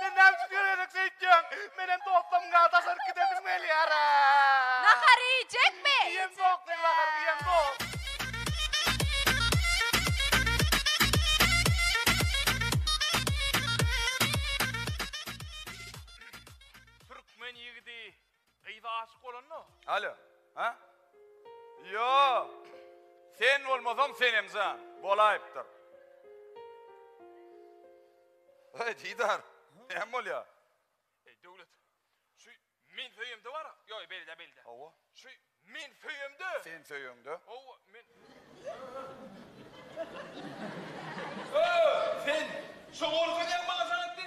Sen näme üçin görenek söýtýäň? Menem dostumga daşaryk gidesim gelýär. Nahar iýjekmi? Iýen zok, men nahar iýen zok. Türkmen ýigidi Gyza aşyk bolanda. Alo. Ha? Ýo. Sen bolmasaň Senem jan. Bolaýypdyr. Eý Didar. Näme bolýa? Eý Döwlet. Şu men söýemde bar. Ýo, beýle beýle. Hawa. Şu men söýemde. Sen söýeňde. Hawa, men. Sen şo gorka näme maňa saňa etdi?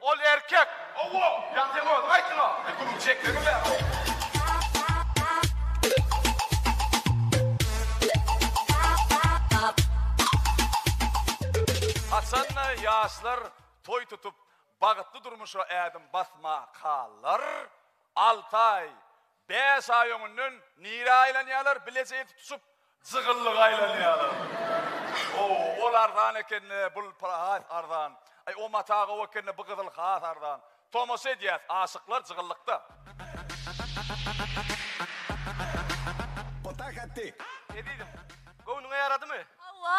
Ol erkek. Owo, ýatyň özi gaýtyn-a. E, gürrüň çekmegem bär-ow. Haçan-da ýaşlar toý tutup, bagytly durmuşa ädim basmakalar, Altaý, Bäş aý öňünden nirä aýlanýalar bilejeýdi tutup. Jygyllyga aýlanýalar. Ow ol arzan ekende bul pul has arzan. Aý o mata gowy ekende bu gyzyl has arzan. Tomaşa edýäs aşyklar jygyllykda. Potakatty. Ne diýdim? Göwnüňe ýaradymy? Hawa.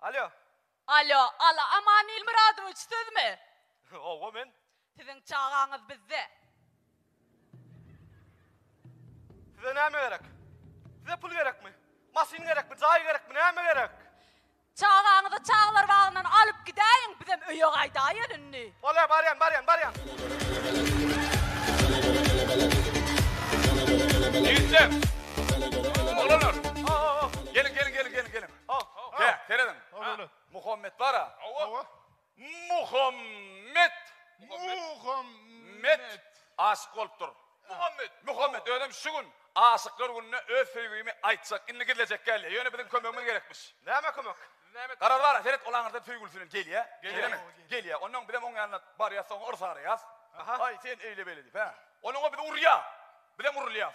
Alýo. Alýo, ala Aman Ilmyradowiç sizmi? Howwa men. Siziň çagaňyz bizde. Size näme gerek? Size pul gerekmi? Maşyn gerekmi? Jaý gerekmi? Näme gerek? Çagaňyzy çagalar bagyndan alyp gidäýiň, bizem öýe gaýdaýyn indi. Bolýar, barýan, barýan, barýan. Ýigitler! Oglanlar! Geliň, geliň, geliň, geliň, geliň. Al, kä, serediň. Muhammet bar-a. Hawa. Muhammet. Muhammet. Aşyk bolupdyr. Muhammet. Muhammet özem şu gün Aşyklar gününe öz söýgimi aýtjak. Indi gizlejek gelýär. Ýöne biziň kömegimiz gerekmiş. Näme kömek? Garaz bar-a, seret, ol aňyrdan söýgülisinem gelýär. Gelýärmi? Gelýär. Onnoň bizem oň ýanyna barýas, oňa yrsaraýas. Aý, sen eýle-beýle diýip, hä? Onuň-a biz urýas. Bizem urulýas.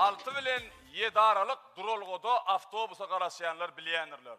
Alty bilen ýedi aralyk duralgada awtobusa garaşýanlar bilýändirler.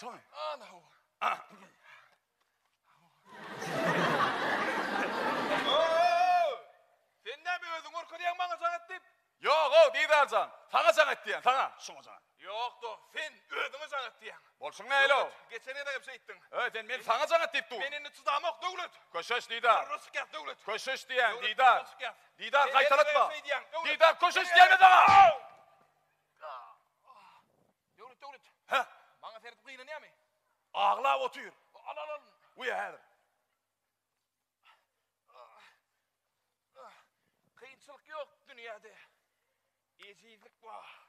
Şoň. Ana ho. Sen näme özüň görkezýäň maňa jaň et diýip? Ýok, o Didar jan. Saňa jaň et diýen, saňa. Şoňa jaň. Ýok, do, sen özüňe jaň et diýýäň. Bolşuň näle o? Geçen gezek hem şeýtdiň. Öý, sen men saňa jaň et diýip dur. Men indi çydamok, Döwlet. Köşeş Didar. Arra çykýas, Döwlet. Köşeş diýýän, Didar. Didar gaýtalatma. Didar köşeş diýmez saňa. Döwlet Döwlet. Hä? Maňa seredip gynanýamy? Aglap otyr. Al al al. Uýa häzir. Kynçylyk ýok dünýäde. Ejizlik bar.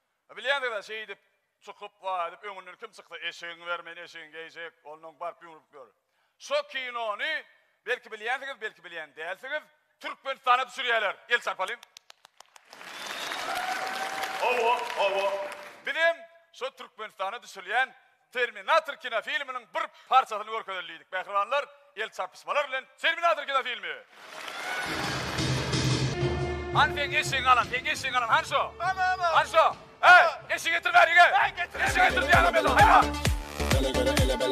Bilýänsiňiz-ä, şeýdip, çykyp, waý edip, öňünden kim çyksa, eşigiňi ber, men eşigiňi geýjek, ondan öň baryp ýumrup gör. Şo kinony, belki bilýänsiňiz, belki bilýän dälsiňiz, Türkmenistana düşürýärler. El çarpalyň. Hawa, hawa. Biz hem şo Türkmenistana düşürilýän Terminator kinofilminiň bir parçasyny görkezeli diýdik. Mähribanlar, el çarpyşmalar bilen Terminator kinofilmi! Hany seň eşegiňi alan, seň eşegiňi alan hany şo? Hany şo? Heý, eşek getir bäri gel. Eşek getir diýýän hem ýa-da, haýwan!